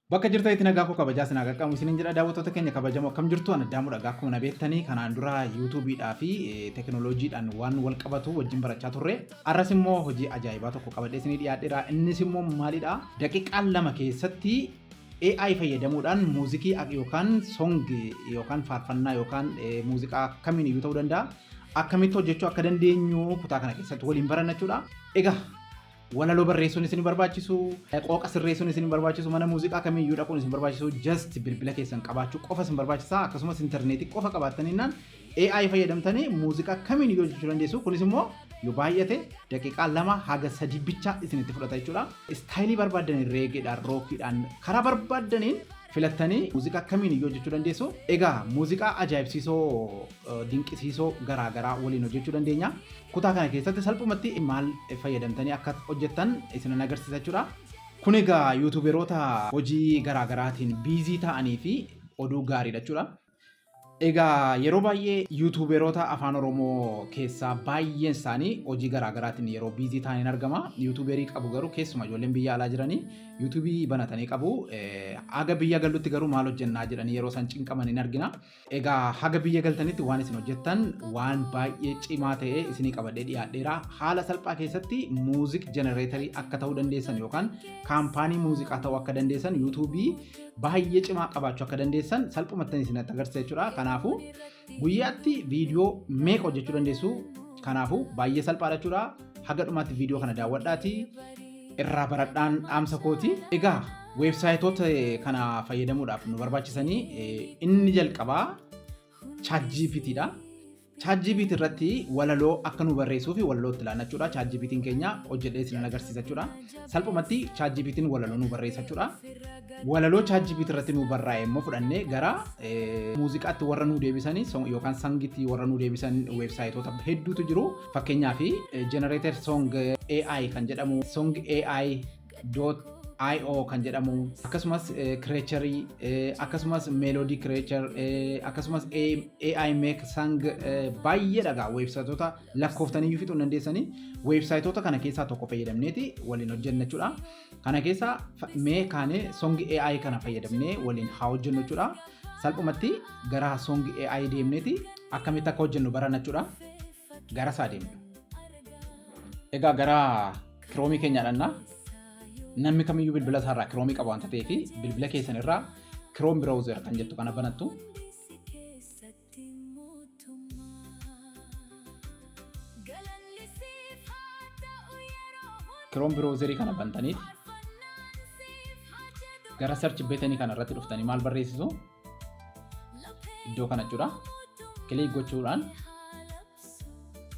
Bakka jirtan itti nagaa koo kabajaa sinaa qaqqabu isinin jedha daawwattoota keenya kabajamoo akkam jirtu ana daamu dhagaa akkuma na beektanii kanaan dura yuutuubiidhaa fi tekinooloojiidhaan waan wal qabatu wajjin barachaa turre arras immoo hojii ajaa'ibaa tokko qabadhee isinii dhiyaadheera innis immoo maalidha daqiiqaa lama keessatti AI fayyadamuudhaan muuzikii yookaan song yookaan faarfannaa yookaan muuziqaa kamiin iyyuu ta'uu danda'a akkamitti hojjechuu akka dandeenyu kutaa kana keessatti waliin baranna jechuudha egaa Walaloo barreessuun isin barbaachisu, qooqa sirreessuun isin barbaachisu, mana muuziqaa kamiyyuu dhaquun isin barbaachisu, just bilbila keessan qabaachuu qofa isin barbaachisa. Akkasumas intarneetii qofa qabaattaninnaan AI fayyadamtanii muuziqaa kamiin iyyuu hojjechuu dandeessu. Kunis immoo yoo baay'ate daqiiqaa lama haga sadii bicha isinitti fudhata jechuudha. Istaayilii barbaaddaniin reegeedhaan, rookiidhaan, karaa barbaaddaniin filattanii muuziqaa kamiin iyyuu hojjechuu dandeessu. Egaa muuziqaa ajaa'ibsiisoo dinqisiisoo garaa garaa waliin hojjechuu dandeenya. Kutaa kana keessatti salphumatti maal fayyadamtanii akka hojjettan isinan agarsiisa jechuudha. Kun egaa yuutuuberoota hojii garaa garaatiin biizii ta'anii fi oduu gaariidha jechuudha. Egaa yeroo baay'ee yuutuuberoota afaan Oromoo keessaa baay'een isaanii hojii garaa garaatiin yeroo biizii ta'aniin argama. Yuutuuberii qabu garuu keessuma ijoolleen biyya alaa jiranii yuutuubii banatanii qabu. Aga biyya galutti garuu maal hojjennaa jedhanii yeroo isaan cinqaman hin argina. Egaa haga biyya galtanitti waan isin hojjettan waan baay'ee cimaa ta'ee isinii qabadhee dhiyaadheera. Haala salphaa keessatti muuziq jenereetarii akka ta'uu dandeessan yookaan kaampaanii muuziqaa ta'uu akka dandeessan yuutuubii baay'ee cimaa qabaachuu akka dandeessan salphumattan isin agarsiisa jechuudha. Kanaafuu guyyaatti viidiyoo meeqa hojjechuu dandeessu? Kanaafuu baay'ee salphaadha jechuudha. Haga dhumaatti viidiyoo kana daawwadhaatii irraa baradhaan dhaamsa kooti. Egaa weebsaayitoota kana fayyadamuudhaaf nu barbaachisanii inni jalqabaa ChatGPT dha. ChatGPT irratti walaloo akka nu barreessuu fi walaloo itti laannachuudha. ChatGPT keenya hojjedhee isin agarsiisa jechuudha. Salphumatti ChatGPT walaloo nu barreessa jechuudha. Walaloo ChatGPT irratti nu barraa'e immoo fudhannee gara muuziqaatti warra nu deebisanii yookaan sangitti warra nu deebisan weebsaayitoota hedduutu jiru. Fakkeenyaaf generator song AI kan jedhamu song AI IO kan jedhamu akkasumas creature akkasumas melody creature akkasumas AI make sang baay'ee dhagaa weebsaayitoota lakkooftan iyyuu fixuu hin dandeessanii weebsaayitoota kana keessaa tokko fayyadamneeti waliin hojjenna jechuudha. Kana keessa fa- mee kaanee songi AI kana fayyadamnee waliin haa hojjennu jechuudha. Salphumatti gara songi AI deemneeti akkamitti akka hojjennu barana jechuudha. Gara isaa deemna. Egaa gara kiroomii keenya dhannaa namni kamiyyuu bilbila isaarraa kiroomii qaba waan ta'eef bilbila keessan irraa kiroom browser kan jettu kana banattu Ati mootummaa. Galanni siif haa ta'u yeroo hundumaa. Chrome browser kana bantaniit. Faarfannaan siif haa jedhu. Gara search button kana irratti dhuftanii maal barreessisu? Iddoo kana jechuudha. Click gochuudhaan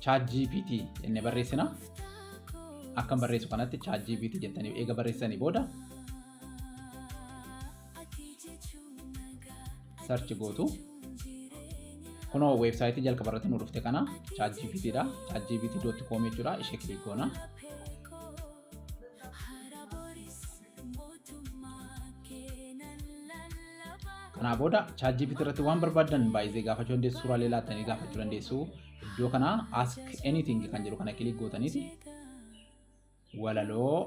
ChatGPT jennee barreessina. Akkan barreessu kanatti ChatGPT jettanii eega barreessanii booda search gootu. Kunoo weebsaayitii jalqaba irratti nu dhufte kana ChatGPT dha. ChatGPT.com jechuudha. Ishee kilik goona. Kanaa booda ChatGPT irratti waan barbaadan baay'ee gaafachuu dandeessu. Suuraalee laattanii gaafachuu dandeessu. Iddoo kana ask anything kan jedhu kana kilik gootaniiti. walaloo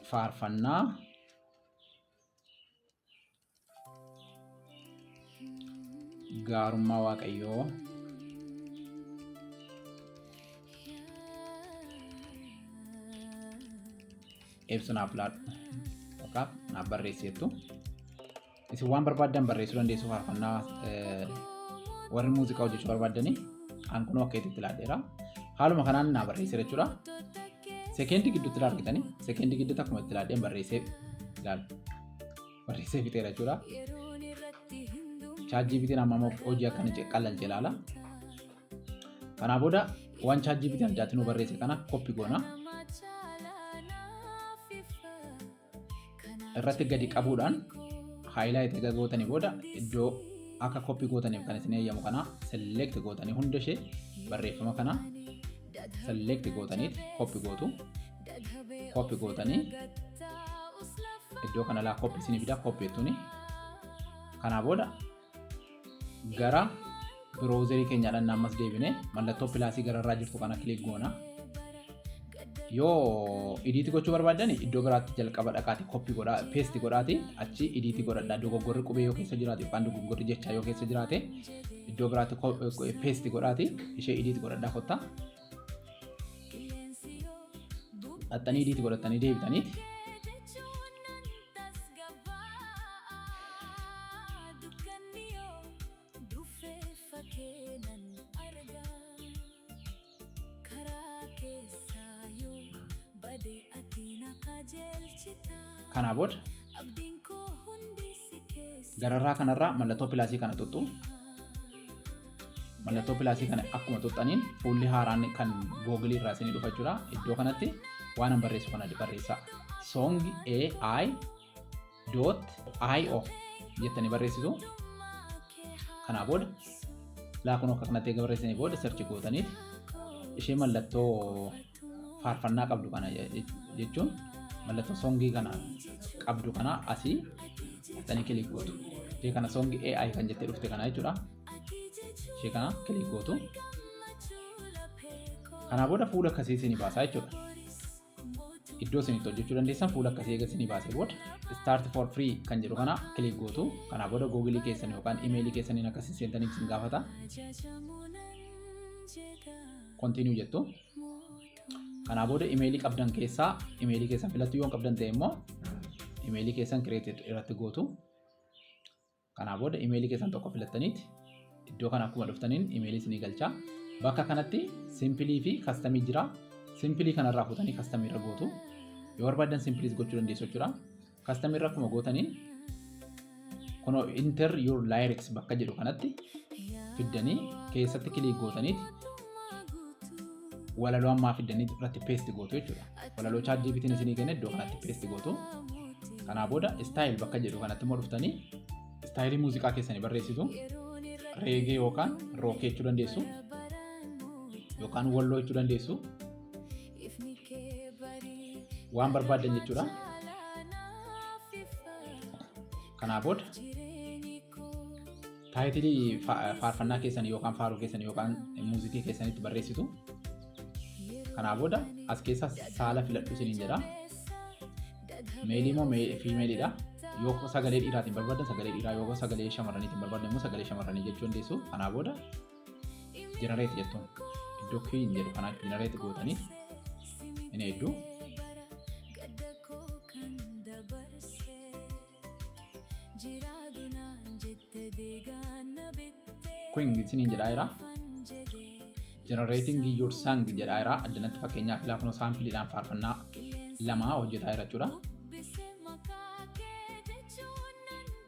faarfannaa gaarummaa waaqayyoo ibsu naaf laadhu yookaan naaf barreessi jettu. Isin waan barbaaddan barreessuu dandeessu faarfannaa eh, warri muuziqaa hojjechuu barbaaddanii an kunoo akka itti laadheera. Haaluma kanaan naa barreessee jechuudha. Sekeendii gidduutti ilaa argitanii sekeendii gidduutti akkuma itti laadheen barreessee ilaala. Barreessee fixeera jechuudha. Chaajjii bitiin amma immoo hojii akkana ce- qallalche ilaala. Kanaa booda waan chaajjii bitiin addaatti nu barreesse kana koppi goona. irratti gadi qabuudhaan haayilaayiti erga gootanii booda iddoo akka koppii gootaniif kan isin eeyyamu kana select gootanii hunda ishee barreeffama kana select gootanii koppii gootu koppii gootanii iddoo kanalaa koppii isinii fida koppii jettuni kanaa booda gara biroozerii keenya dhanna ammas deebine mallattoo pilaasii gararraa jirtu kana kilik goona. Yoo idiitii gochuu barbaaddan iddoo biraatti jalqaba dhaqaati koppii godhaa peesti godhaati achi idiitii godhadha dogoggorri qubee yoo keessa jiraate yookaan dogoggorri jechaa yoo keessa jiraate iddoo biraatti peesti godhaati ishee idiitii godhadhaa kottaa. dhaxxanii idiiti godhattanii deebitanii kanaa booda gararraa kanarraa mallattoo pilaasii kana xuxxu mallattoo pilaasii kana akkuma tuqxaniin fuulli haaraan kan googilii irraa isinii dhufa jira iddoo kanatti waan an barreessu kana barreessaa song ai dot io jettanii barreessitu kanaa booda laakuun akka kanatti eega barreessanii booda sarchi gootaniif ishee mallattoo faarfannaa qabdu kana jechuun mallattoo songii kana qabdu kana asii dhaqxanii kilik gootu. Ishee kana songi AI kan jettee dhufte kana jechuudha. Ishee kana kilik gootu. Kanaa booda fuula akkasii isinii baasaa jechuudha. Iddoo isin itti hojjechuu dandeessan fuula akkasii eega isinii baasee booda start for free kan jedhu kana kilik gootu. Kanaa booda googilii keessan yookaan imeelii keessaniin akkasii seentaniif isin gaafata. Continue jettu. Kanaa booda imeelii qabdan keessaa imeelii keessan filattu yoo hin qabdan ta'e immoo imeelii keessan create irratti gootu. Kanaa booda imeelii keessan tokko filattaniiti iddoo kana akkuma dhuftaniin imeelii isinii galchaa. Bakka kanatti simpilii fi kastamii jira. Simpilii kanarraa fuutanii kastamii irra gootu. Yoo barbaadan simpiliis gochuu dandeessu jechuudha. Custom irra akkuma gootaniin kunoo enter your lyrics bakka jedhu kanatti fiddanii keessatti kiliik gootaniiti walaloo ammaa fiddanii irratti paste gootu jechuudha. Walaloo chat GPT'n isinii kenne iddoo kanatti paste gootu. Kanaa booda style bakka jedhu kanatti immoo dhuftanii istaayilii muuziqaa keessanii barreessitu reegee yookaan rookee jechuu dandeessu yookaan walloo jechuu dandeessu Ifni kee barii Waan barbaaddan jechuudha. caalaa naaf ifa. Kanaa booda Jireenyi koo taayitilii fa- faarfannaa keessan yookaan faaruu keessan yookaan muuziqii keessanitti barreessitu. Kanaa booda as keessaa saala filadhu isiniin jedha. Meelii moo mee- fiimeeliidha. Yoo sagalee dhiiraatiin barbaaddan sagalee dhiiraa yoo sagalee shamarraniitiin barbaaddan immoo sagalee shamarranii jechuu dandeessu. Kanaa booda generate jettuun iddoo clean jedhu kanaa generate gootanii inni hedduu queen isiniin jedhaa jira generating your song jedhaa jira addanatti fakkeenyaaf laafnoo saampiiliidhaan faarfannaa lamaa hojjetaa jira jechuudha.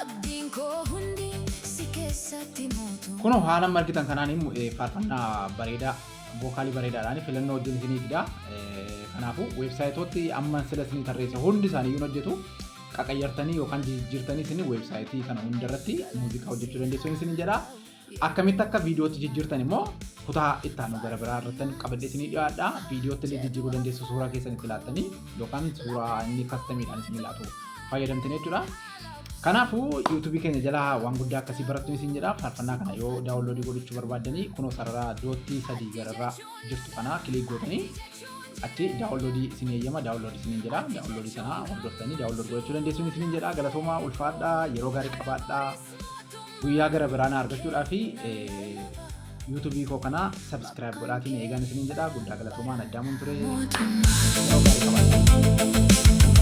Abdiin koo hundi si keessatti mootu. Kunoo haala amma argitan kanaan faarfannaa bareedaa vookaalii bareedaadhaan filannoo wajjin isinii fida. Kanaafuu weebsaayitooti amma sila isinii tarreesse hundi isaanii yoon hojjetu qaqayyartanii yookaan jijjiirtanii isin weebsaayitii kana hundarratti muuziqaa hojjechuu dandeessuun isin jedha. Akkamitti akka viidiyootti jijjiirtan immoo kutaa itti aanu gara biraa irratti qabadhee isinii dhiyaadha. Viidiyootti illee jijjiiruu dandeessu suuraa keessan itti laattanii yookaan suuraa inni kastamiidhaan isinii laatu fayyadamtan jechuudha. Kanaafuu yuutuubii keenya jalaa waan guddaa akkasii barattu isin jedha. Faarfannaa kana yoo daawunloodii godhachuu barbaaddanii kunoo sarara doottii sadii gararraa jirtu kana kiliik gootanii achi daawunloodii isin eeyyama daawunloodii isin jedha. Daawunloodii sana hordoftanii daawunloodii godhachuu dandeessuun isin jedha. Galatoomaa ulfaadhaa yeroo gaarii qabaadhaa. guyyaa gara biraa na argachuudhaa fi yuutuubii koo kana sabskiraayib godhaatiin eegaan isiniin jedha guddaa galatoomaan addaamuun ture. Yeroo gaarii qabaadhaa.